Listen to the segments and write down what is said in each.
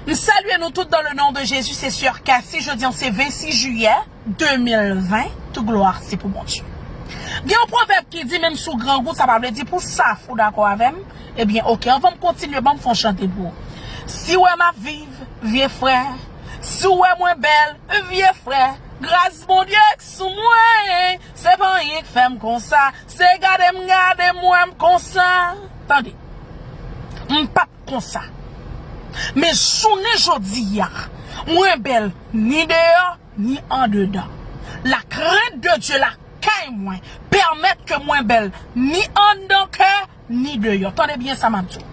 M salye nou tout dan le non de Jezi se soeur Cassy jodi an se 26 jiyè 2020 tout glwa se pou Bondye gen yon pwovèb ki di menm si w grangou sa pa vle di pou saf ou dakò avèm ebyen ok anvan m kontinye banm fè yon chante pou ou si w wè m ap viv vye frè si w wè mwen bèl vye frè gras Bondye k sou mwen se pa anyen k fè m konsa se gade m gade m wè m konsa tande m pap. konsa. Men jounen jodi a, mwen bèl ni deyò, ni andedan. Lakrent de Dye lakay mwen pèmèt ke mwen bèl ni anndan kè, ni deyò. Tande byen sa m ap di w.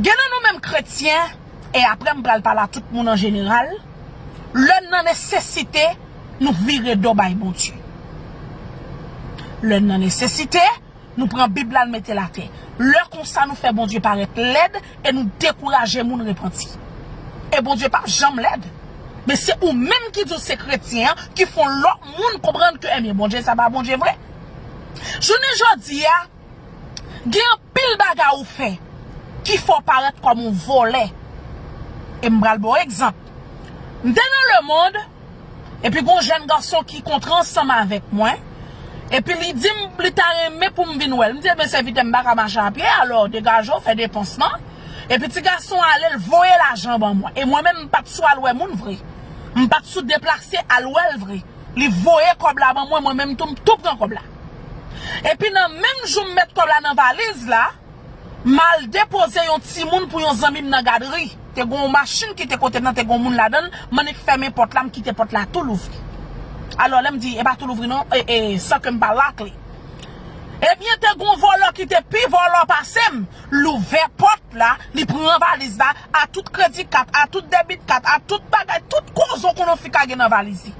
Gen nan nou menm kretyen, e apre m pral pale a tout moun an jeneral, lè n nan nesesite, nou vire do bay Bondye. Lè n nan nesesite. Nou pran bib la n metel atè. Lè konsa nou fè Bondye parèt lèd e nou dekouraje moun repanti. E Bondye pap janm lèd. Men se ou menm ki di w se kretyen an ki fè w lòt moun konprann ke ebyen Bondye sa pa Bondye vre. Jounen jodi a gen anpil bagay ou fè ki fè w parèt kòm yon vòlè. E m pral ba w egzanp. M te nan lemond. Epi gon jèn gason ki kontre ansanm avèk mwen, epi li di m li ta renmen pou m vin wè l. M di, Ebyen sèvitè, m pa ka mache apye, alò degaje w, fè depans lan. Epi ti gason an ale, l voye lajan an ban mwen. E mwen menm m pa t sou al wè moun vre. M pa t sou deplase al wè l vre. Li voye kòb la ban mwen, mwen menm tou m tou pran kòb la. Epi nan menm jou m met kòb la nan valiz la, M al depoze yon timoun pou yon zanmi m nan gadri. Te gen yon machin ki te kote m nan, te gen yon moun ladan l. M annik fèmen pòt la, m kite pòt la tou louvri. Alò, lè m di e pa tou louvri non, e, e, san ke m pa lak li. Ebyen, te gen yon vòlò ki te pi vòlò pase m, l ouvè pòt la, li pran valiz la, a tout kredi kat, a tout debit kat, a tout bagay, tout kozo konofi ka gen nan valiz li.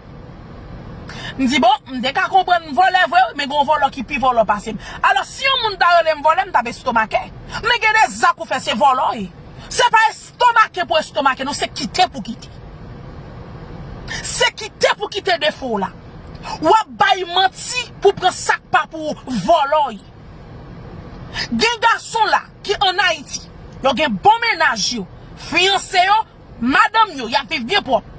M di bon, m te ka konprann m vòlè vre wi, men gen yon vòlò ki pi vòlò pase m. Alòs, si yon moun ta rele m vòlè, m t ap estomake. Men gen de zak ou fè se vòlò e. Se pa estomake pou estomake non, se kite pou kite. Se kite pou kite defo w la. W ap bay manti pou pran sa k pa pou ou, vòlò e. Gen gason la ki an Ayiti, yo gen bon mennaj yo, fiyanse yo. Madanm yo, y ap viv byen pwòp.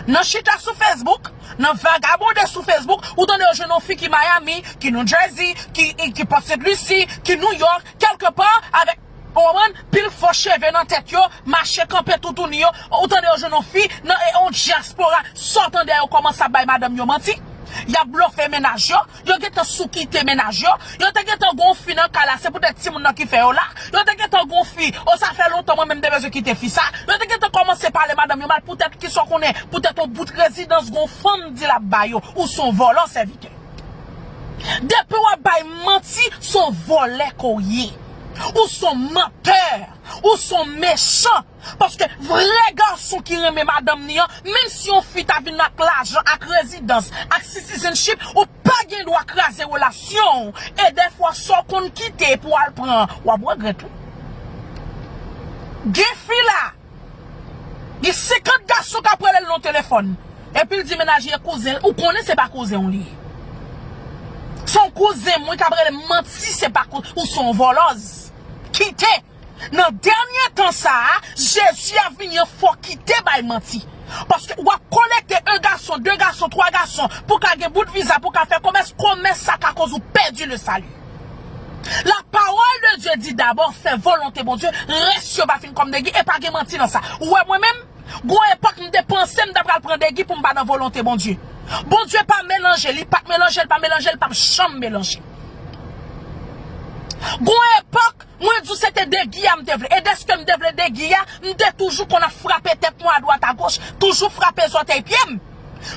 Nan chita sou Facebook, nan vagabonde sou Facebook, ou tande yo jwenn yon fi ki Miami, ki New Jersey, ki Port St. Lucie, ki New York, kèlke pa, avèk, ou konprann, pil fo cheve nan tèt yo, mache kanpe toutouni yo, ou tande yo jwenn yon fi nan yon dyaspora, sa w tande a yo kòmanse ap bay madanm yo manti, y ap blofe mennaj yo. Yo gentan sou kite mennaj yo. Yo te gentan gen yon fi nan kay la se poutèt timoun nan ki fè yo la. Yo te gentan gen yon fi, oh sa fè lontan mwen menm te bezwen kite fi sa. Yo te gentan kòmanse pale madanm yo mal poutèt kisa w konnen, poutèt yon bout rezidans gen yon fanm di l ap ba yo. Ou s on vòlò sèvitè. Depi w ap bay manti, s on vòlè ke w ye. Ou s on mantè. Ou s on mechan. Paske vrè gason ki renmen madanm ni an, menm si yon fi ta vin ak lajan, ak rezidans, ak citizenship, ou pa gen dwa kraze relasyon w, e dèfwa sa w konn kite pou al pran, wap regrèt wi. Gen fi la, gen 50 gason kap rele l nan telefòn, epi l di menaj e kouzen l, ou konnen se pa kouzen w li ye. Son kouzen m wi kap rele m, manti se pa kouzen, ou son vòlòz. Kite. Nan dènye tan sa a, Jezi ap vini an fò kite bay manti. Paske wap kolekte 1 gason, 2 gason, 3 gason pou ka gen bout viza pou ka fè komès, komès sa ka koz ou pèdi le sali. La pawòl de Dye di dabò fè volonte Bondye, rès yo va fin kòm degi e pa gen manti nan sa. Ou wè mwen menm, gon epòk m te panse m ta pral pran degi pou m pa nan volonte Bondye. Bondye pa melanje, li pat melanje, li pa melanje, li pap janm melanje. Gon epòk. Mwen di w se te degi a m te vle e dèske m te vle degi a, m te toujou konn ap frape tèt mwen adwat agoch, toujou frape zòtèy pye m.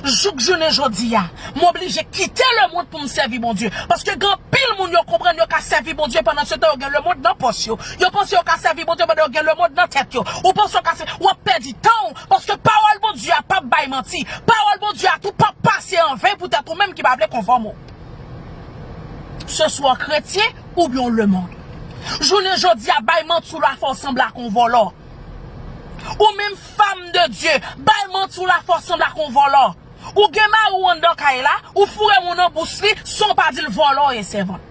Jouk jounen jodi a, m oblije kite lemond pou m sèvi Bondye. Paske gen anpil moun yo konprann yo ka sèvi Bondye pandansetan yo gen lemond nan pòch yo. Yo panse yo ka sèvi Bondye pandan yo gen lemond nan tèt yo. Ou panse w ka sèvi, w ap pèdi tan w, paske pawòl Bondye a pap bay manti. Pawòl Bondye a tou pap pase an ven poutèt ou menm ki pa vle konfòme w. Seswa w kretyen. Oubyen w lemond. Jounen jodi a bay manti w la fè w sanble ak yon vòlò. Ou menm fam de Dye bay manti w la fè w sanble ak yon vòlò. Ou gen mari w anndan kay la, ou foure moun nan bous li san w pa di l vòlò w ye sèvant.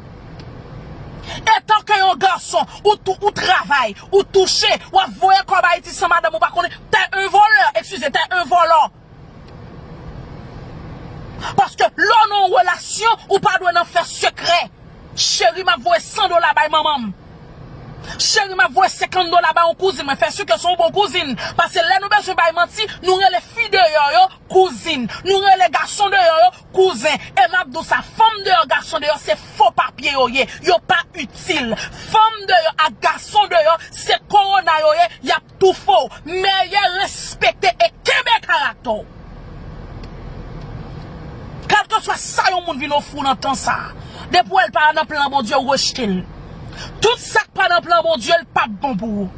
Etanke yon gason ou tou ou travay, ou touche, w ap voye kòb Ayiti san madanm ou pa konnen, t è yon vòlò, ekskize, t è yon vòlò. Paske lè w nan yon relasyon ou pa dwe nan fè sekrè Cheri map voye 100 dola bay manman m Cheri map voye 50 dola bay yon kouzin mwen fè si ke se yon bon kouzin Pase lè nou bezwen bay manti nou rele fi deyò yo kouzin Nou rele gason deyò yo kouzen E map di w sa fanm deyò gason deyò se fo papye yo ye Yo pa itil Fanm deyò ak gason deyò se korona yo ye yap Toufo mèyè respekte e kenbe karaktè w. Kèlkeswa sa yon moun vin ofri w nan tan sa a, depi w wè l pa nan plan Bondye ou rejte l. Tout sa k pa nan plan Bondye l pap bon pou ou.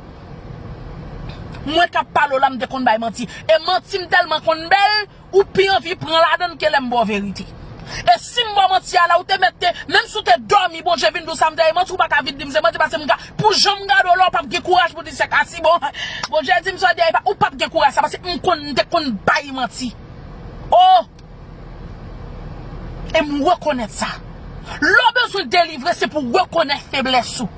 Mwen k ap pale w la m te konn bay manti e manti m tèlman konn bèl. Ou pi anvi pran ladann ke lèm baw verite. E sim baw manti a la ou te mèt te, menm si ou te dòmi Bondye vin diw sam te ye manti ou paka vin dim se manti paske m ka pou janm gade w la ou pap gen kouraj pou di se ka si bon Bondye dim sa te ye ou pap gen kouraj sa paske m konn m te konn bay manti oh e m rekonèt sa lè w bezwen delivre se pou rekonèt feblès ou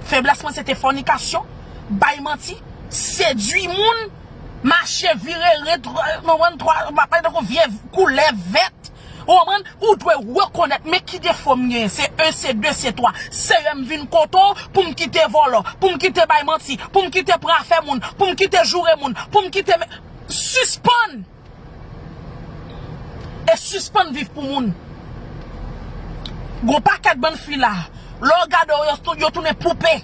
feblès mwen se te fònikasyon bay manti sedwi moun. Mache vire ret ou konprann twa map pale tankou vye koulèv vèt ou konprann ou dwe rekonèt men ki defo m genyen se 1 se 2 se 3 seyè m vin kote w pou m kite vòlò pou m kite bay manti pou m kite pran afè moun pou m kite joure moun pou m kite sispann E sispann viv pou moun. Gon pakèt bann fi la, lè w gade yo, yo tounen poupe.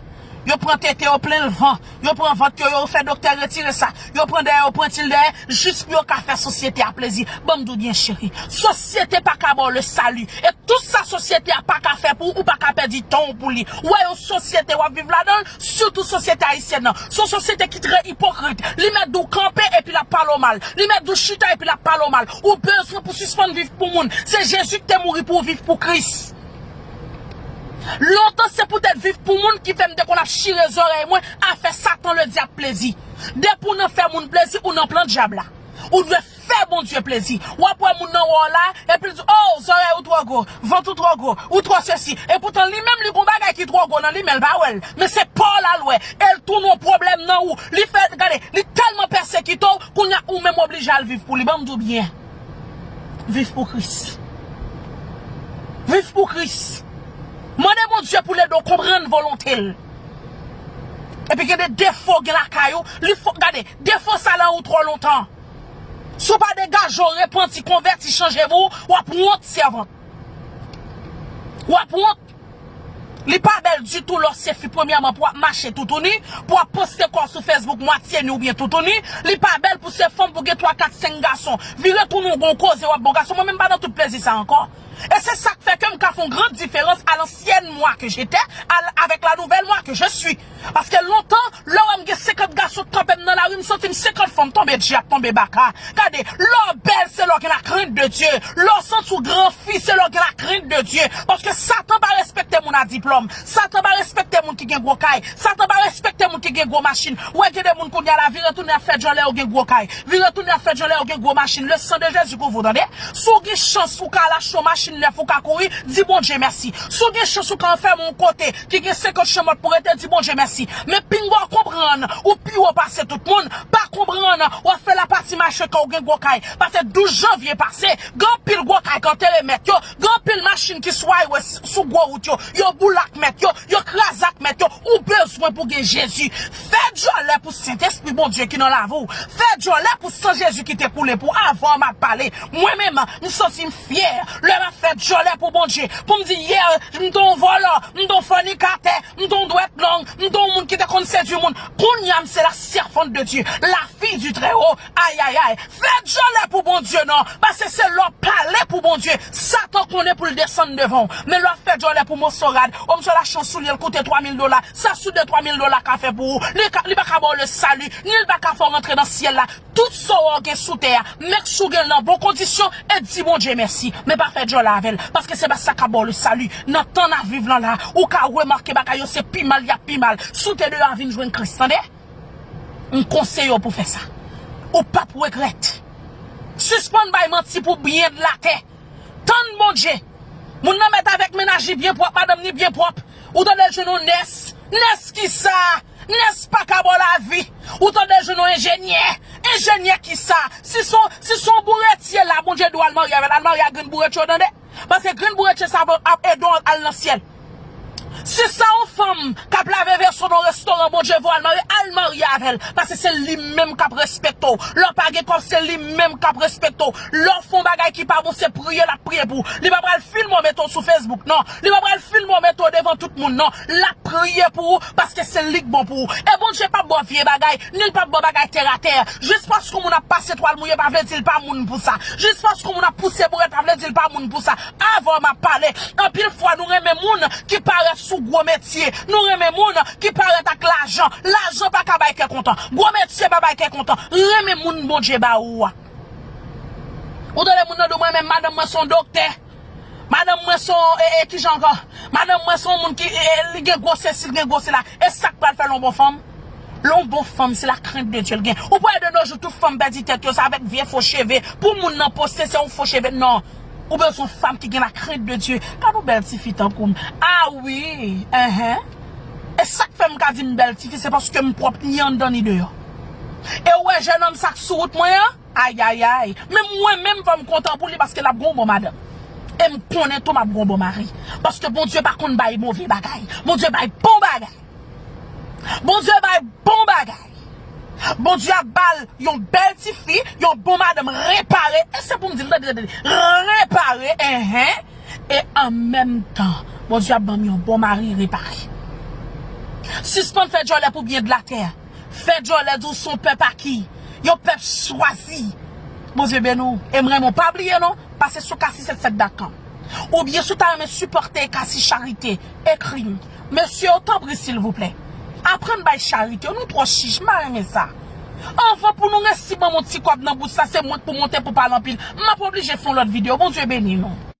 Yo pran tete yo plen lvan, yo pran vant yo, yo fè doktè retire sa, yo pran dèyè, yo pran til dèyè, jis pou yo ka fè sosyete a plezi. Ban m di w byen cheri, sosyete pa ka ba w le sali. E tout sa sosyete a pa ka fè pou ou, ou pa ka pèdi tan w pou li. Ou wè yon sosyete w ap viv ladan l, Sitou sosyete ayisyèn nan. S on sosyete ki trè ipokrit. Li mèt di w kanpe epi l ap pale w mal. Li mèt di w chita epi l ap pale w mal. Ou bezwen pou sispann viv pou moun. Se Jezi ki te mouri pou w viv pou Kris. Lontan se poutèt viv pou moun ki fè m te konn ap chire zòrèy mwen a fè Satan Ledyab plezi. Depi w nan fè moun plezi, ou nan plan Dyab la. Ou dwe. Fè Bondye plezi. W ap wè moun nan wè w la, epi l di, O, zòrèy ou twò gwo, vant ou twò gwo, ou twò sesi. Epoutan li menm li gen yon bagay ki twò gwo nan li, men l pa wè l. Men se pa w l al wè, e l tounen yon pwoblèm nan ou. Li fè, gade, li tèlman pèsekite w, kounye a ou menm oblije al viv pou li. Ban m di w byen, viv pou Kris. Viv pou Kris. Mande Bondye pou l ede w konprann volonte l. Epi gen de defo gen lakay ou, li fò, gade, defo sa lan ou twò lontan. Si w pa degaje w repanti konvèti chanje vi w wap wont sèvant wap wont li pa bèl ditou lè w se fi premyèman pou wap mache toutouni pou wap poste kò w sou fesbouk mwatye nu oubyen toutouni li pa bèl pou se fanm pou w gen 3 4 5 gason vire tounen w gon koze wap bo gason mwen menm m pa nan tout plezi sa ankò e se sak fè ke m ka fon gran diferans a lansyèn mwa ke jetè al avèk la nouvèl mwa ke je sui. Paske lontan lè w wè m gen 50 gason k kanpe m nan lari m santi m 50 fanm tonbe dji ap tonbe baka gade lè w bèl se lè w gen la krent de Dye lè w santi w gran fi se lè w gen la krent de Dye paske satan pa respekte moun a diplòm satan pa respekte moun ki gen gwo kay satan pa respekte moun ki gen gwo machin ou wè gen de moun kounye a la vire tounen ap fè djòlè yo gen gwo kay vire tounen ap fè djòlè yo gen gwo machin le san de Jezi kouvri w tande si w gen chans ou ka al achte yon machin nèf ou ka kouri di Bondye mèsi si w gen chans ou ka anfème yon kote ki gen 50 chanmòt pou rete di Bondye mèsi men pinga w konprann ou pi wo pase tout moun pa konprann wap fè la pati mache kè w gen gwo kay pase 12 janvye pase gen anpil gwo kay k antere mèt yo gen anpil machin ki sou aywè sou gwo wout yo yo boule ak mèt yo yo kraze ak mèt yo ou bezwen pou gen Jezi fè dyòlè pou Sentespri Bondye ki nan lavi w fè dyòlè pou san Jezi ki te koule pou avan an map pale mwen menm m santi m Yè, lè m ap fè dyòlè pou Bondye, pou m di yè m t on vòlò, m t on fònikatè, m t on dwèt long, m t on moun ki te konn sedui moun, kounye a m se la sèvant de Dye, la fi du Trèwo, ayayay! Fè dyòlè pou Bondye non, pase se lè w pale pou Bondye, Satan konnen pou l desann devan w. Men lè w ap fè dyòlè pou moso rad, o m se la chan soulye l koute twa mil dola, sa sou de twa mil dola ka fè pou ou? Li ka, li pa ka ba w le sali, ni l pa ka fè w rantre nan syèl la. Tout sa w gen sou tè a, mek si w gen l nan bon kondisyon e di Bondye mèsi. Men pa fè djòlè avè l, paske se pa sa k ap ba w le sali. Nan tan n ap viv lan la a, ou ka remake bagay yo se pi mal y ap pi mal. Si w te deyò a vin jwenn Kris tande. M konseye w pou w fè sa. Ou p ap regrèt. Sispann bay manti pou byen de latè. Tann Bondye. Moun nan mèt avèk mennaj li byen pwòp, madanm ni byen pwòp. Ou tande l jwenn yon nès. Nès kisa? Nès paka baw lavi ou tande jwenn yon enjenyè enjenyè kisa si son si son bouretye la bondye diw al marye avèl al marye ak grenn bouretye ou tande paske grenn bouretye sa ap ap edew al nan syèl si se yon fanm kap lave veso nan yon restoran bondye voyel marye al marye avèl paske se li menm kap respekte w lèw pa gen kòb se li menm kap respekte w lèw fon bagay ki pa bon se priye lap priye pou w li pa pral filme w mete w sou fesbouk nan li pa pral filme w mete w devan tout moun nan lap priye pou ou. Paske se lik bon pou ou. E Bondye pap baw vye bagay, ni l pap baw bagay tè a tè. Jis pask on moun ap pase twal mouye pa vle dil pa moun pou sa. Jis pask on moun ap pouse bourèt pa vle dil pa moun pou sa. Avw map pale. Anpil fwa nou renmen moun ki parèt sou gwo metye. Nou renmen moun ki parèt ak lajan. Lajan pa ka bay kè kontan. Gwo metye pa bay kè kontan. Renmen moun Bondye ba ou a. Ou tande moun nan di w mwen menm madanm mwen son doktè. Madanm mwen se yon e e kijan ankò? Madanm mwen se yon moun ki e e li gen gwose si li gen gwose la e sak pral fèl yon bon fanm? Lè yon bon fanm se la crainte de Dieu li gen ou pa wè de nos jours tout fanm pèdi tèt yo se avèk vye fo cheve pou moun nan poste se yon fo cheve nan ou bezwen fanm ki gen la crainte de Dieu gad yon bèl tifi tankou m a wi eh e sak fè m ka di m bèl tifi se paske m pwòp ni anndan ni deyò e ou wè jènòm sak sou wout mwen an? Ayayayy men mwen menm fòm kontan pou li paske lap gon bon madanm em konnen tou map gon bon mari paske Bondye pa konn bay move bagay Bondye bay bon bagay Bondye bay bon bagay Bondye ap bal yon bèl ti fi yon bon madanm repare e se poum dil tande tande repare enhen e an menm tan Bondye ap banm yon bon mari repare sispann fè djòlè pou byen de la tè. Fè djòlè di w son pèp a ki Yon pèp chwazi Bondye beni w e m renmen w pa bliye non pase sou casisette 7 dat lan ou byen si w ta renmen sipòte casi charite ekri m mesye yo tanpri silvouplè aprann bay charite nou twò chich m pa renmen sa anvan pou nou resi ban m yon ti kòb nan bous la se mwen k pou monte pou pale anpil m ap oblije fè yon lòt video Bondye beni nou.